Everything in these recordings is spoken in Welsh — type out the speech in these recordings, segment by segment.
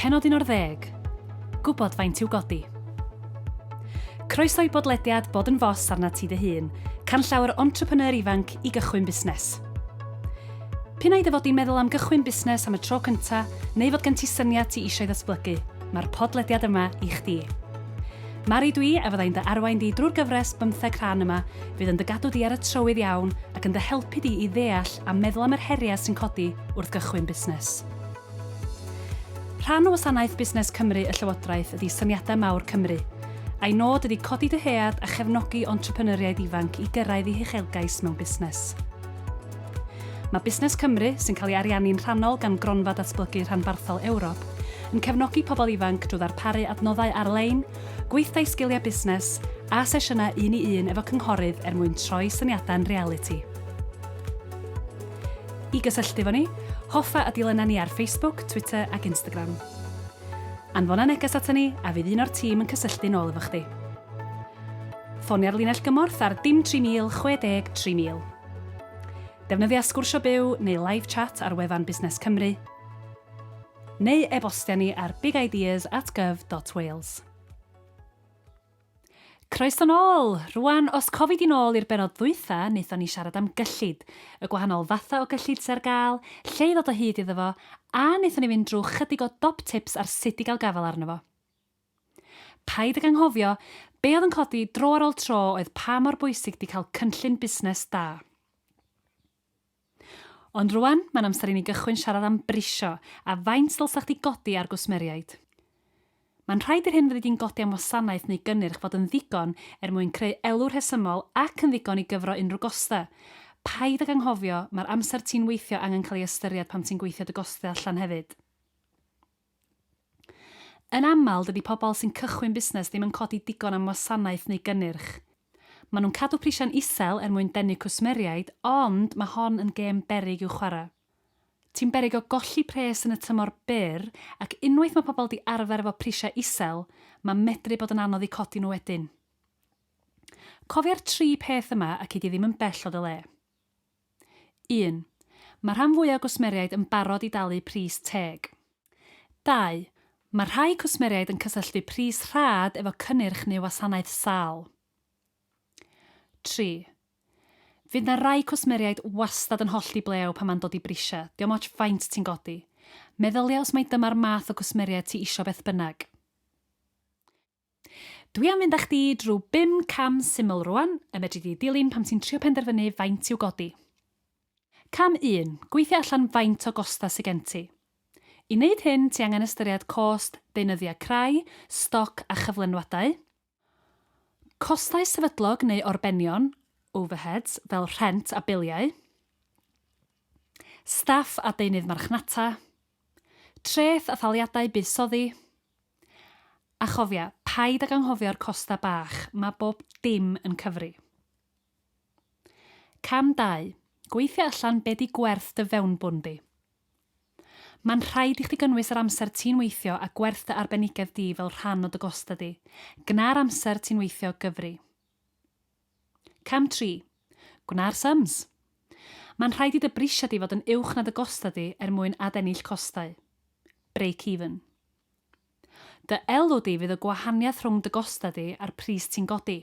Pennod 11. Gwybod faint i'w godi. Croeso i bodlediad Bod yn Fos arnat ti dy hun, canllawer entrepreneur ifanc i gychwyn busnes. P'un ai dy fod i'n meddwl am gychwyn busnes am y tro cynta, neu fod gen ti syniad ti eisiau ddatblygu, mae'r podlediad yma i chdi. Mari dwi a fyddai'n dy arwain di drwy'r gyfres bymtheg rhan yma, fydd yn dy gadw di ar y trywydd iawn ac yn dy helpu di i ddeall a meddwl am yr heriau sy'n codi wrth gychwyn busnes. Rhan o wasanaeth Busnes Cymru y Llywodraeth ydi Syniadau Mawr Cymru. A'i nod ydi codi dyhead a chefnogi entrepreneuriaid ifanc i gyrraedd eu huchelgais mewn busnes. Mae Busnes Cymru, sy'n cael ei ariannu'n rhannol gan Gronfa Datblygu Rhanbarthol Ewrop, yn cefnogi pobl ifanc drwy ddarparu adnoddau ar-lein, gweithdai sgiliau busnes, a sesiynau un-i-un efo cynghorydd er mwyn troi syniadau'n realiti. I gysylltu efo ni, hoffa y dulynau ni ar Facebook, Twitter ac Instagram. Anfona neges aton ni a fydd un o'r tîm yn cysylltu'n ôl efo chdi. Ffonia'r linell gymorth ar dim 3060 3000. Defnyddia Sgwrsio Byw neu Live Chat ar wefan Busnes Cymru, neu e-bostia ni ar bigideas at gov.wales. Croeso nôl! Rwan, os cofi di'n ôl i'r benod ddwytha, wnaethon ni siarad am gyllid, y gwahanol fatha o gyllid sy ar gael, lle i ddod o hyd iddo fo, a wnaethon ni fynd drwy chydig o dop tips ar sut i gael gafael arno fo. Paid ag anghofio, be oedd yn codi dro ar ôl tro oedd pa mor bwysig di cael cynllun busnes da. Ond rwan, mae'n amser i ni gychwyn siarad am brisio a faint ddylsa chdi godi ar gwsmeriaid. Mae'n rhaid i'r hyn fyddi di'n godi am wasanaeth neu gynnyrch fod yn ddigon er mwyn creu elw rhesymol ac yn ddigon i gyfro unrhyw gostau. Paid ag anghofio, mae'r amser ti'n weithio angen cael ei ystyried pan ti'n gweithio dy gostau allan hefyd. Yn aml, dydy pobl sy'n cychwyn busnes ddim yn codi digon am wasanaeth neu gynnyrch. Maen nhw'n cadw prisiau'n isel er mwyn denu cwsmeriaid, ond mae hon yn gêm beryg i'w chwarae. Ti'n beryg o golli pres yn y tymor byr, ac unwaith mae pobl 'di arfer efo prisiau isel, mae medru bod yn anodd eu codi nhw wedyn. Cofia'r tri peth yma a cei di ddim yn bell o dy le. Un. Mae rhan fwyaf o gwsmeriaid yn barod i dalu pris teg. Dau. Mae rhai cwsmeriaid yn cysylltu pris rhad efo cynnyrch neu wasanaeth sâl. Tri. Fydd 'na rai cwsmeriaid wastad yn hollti blew pan mae'n dod i brisia, diom otsh faint ti'n godi. Meddylia os mai dyma'r math o gwsmeriaid ti isio beth bynnag. Dwi am fynd â chdi drwy bum cam syml rŵan y medri di ddilyn pan ti'n trio penderfynu faint i'w godi. Cam un, gweithio allan faint o gostau sy gen ti. I wneud hyn, ti angen ystyried cost deunyddiau crai, stoc a chyflenwadau, costau sefydlog neu orbenion, overheads, fel rhent a biliau, staff a deunydd marchnata, treth a thaliadau buddsoddi, A chofia, paid ag anghofio'r costa bach, mae bob dim yn cyfri. Cam dau, gweithio allan be di gwerth dy fewnbwn di. Mae'n rhaid i chdi gynnwys yr amser ti'n weithio a gwerth dy arbenigedd di fel rhan o dy gosta di. Gna'r amser ti'n weithio gyfri. Cam tri, gwna'r sums. Mae'n rhaid i dy brisiau di fod yn uwch na dy gosta di er mwyn adennill costau. Break even. Dy elw di fydd y gwahaniaeth rhwng dy gostau di a'r pris ti'n godi.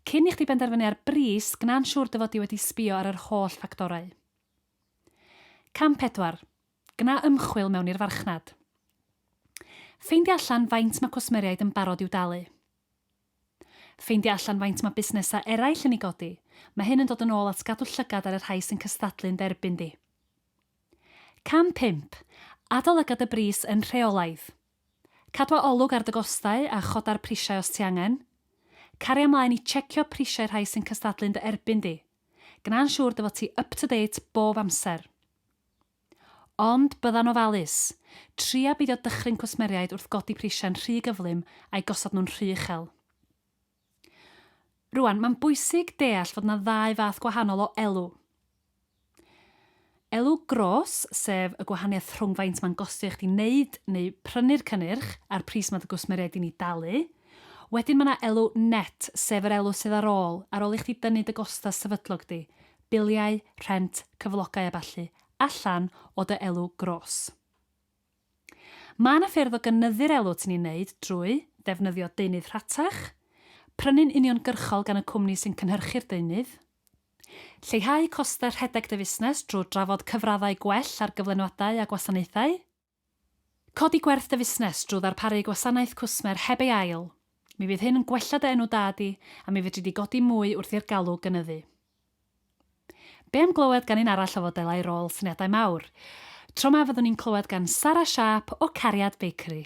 Cyn i chdi benderfynu ar bris, gwna'n siŵr dy fod di wedi sbio ar yr holl ffactorau. Cam pedwar, Gwna ymchwil mewn i'r farchnad. Ffeindia allan faint mae cwsmeriaid yn barod i'w dalu. Ffeindio allan faint mae busnesau eraill yn ei godi, mae hyn yn dod yn ôl at gadw llygad ar y rhai sy'n cystadlu'n dderbyn di. Cam pump, Adolyga dy bris yn rheolaidd. Cadw a olwg ar dy gostau a choda'r prisiau os ti angen. Caria mlaen i checio prisiau rhai sy'n cystadlu'n dy erbyn di. Gwna'n siŵr dy fod ti up-to-date bob amser. Ond bydda'n ofalus. Tria beidio dychryn cwsmeriaid wrth godi prisiau'n rhy gyflym a'u gosod nhw'n rhy uchel. Rŵan, mae'n bwysig deall fod yna ddau fath gwahanol o elw. Elw gros, sef y gwahaniaeth rhwng faint mae'n gostio i chdi wneud neu prynu'r cynnyrch a'r pris mae dy gwsmeriaid di'n ei dalu. Wedyn mae yna elw net, sef yr elw sydd ar ôl, ar ôl i chdi dynnu dy gostau sefydlog di, biliau, rhent, cyflogau a ballu, allan o dy elw gros. Mae yna ffyrdd o gynyddu'r elw ti'n ei wneud drwy ddefnyddio deunydd rhatach, prynu'n uniongyrchol gan y cwmni sy'n cynhyrchu'r deunydd, lleihau costau rhedeg dy fusnes drwy drafod cyfraddau gwell ar gyflenwadau a gwasanaethau, Codi gwerth dy fusnes drwy ddarparu gwasanaeth cwsmer heb ei ail. Mi fydd hyn yn gwella dy enw da di a mi fedri di godi mwy wrth i'r galw gynyddu. Be am glywed gan un arall o fodelau rôl syniadau mawr? Tro ma fyddwn ni'n clywed gan Sara Sharp o Cariad Bakery.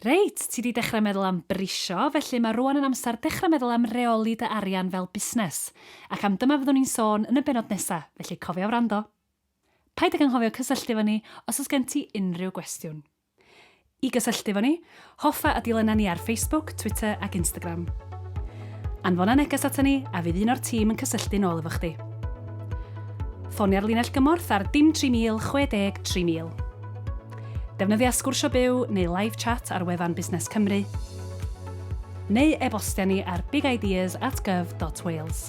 Reit, ti 'di dechrau meddwl am brisio, felly mae rŵan yn amser dechrau meddwl am reoli dy arian fel busnes. Ac am dyma fyddwn ni'n sôn yn y bennod nesa, felly cofia wrando. Paid ag anghofio cysylltu efo ni os oes gen ti unrhyw gwestiwn. I gysylltu efo ni, hoffa a dilyna ni ar Facebook, Twitter ac Instagram. Anfona neges aton ni a fydd un o'r tîm yn cysylltu'n ôl efo chdi. Ffonia'r linell gymorth ar dim 3000 60 3000. Defnyddia Sgwrsio Byw neu Live Chat ar wefan Busnes Cymru, neu e-bostia ni ar bigideas at gov.wales.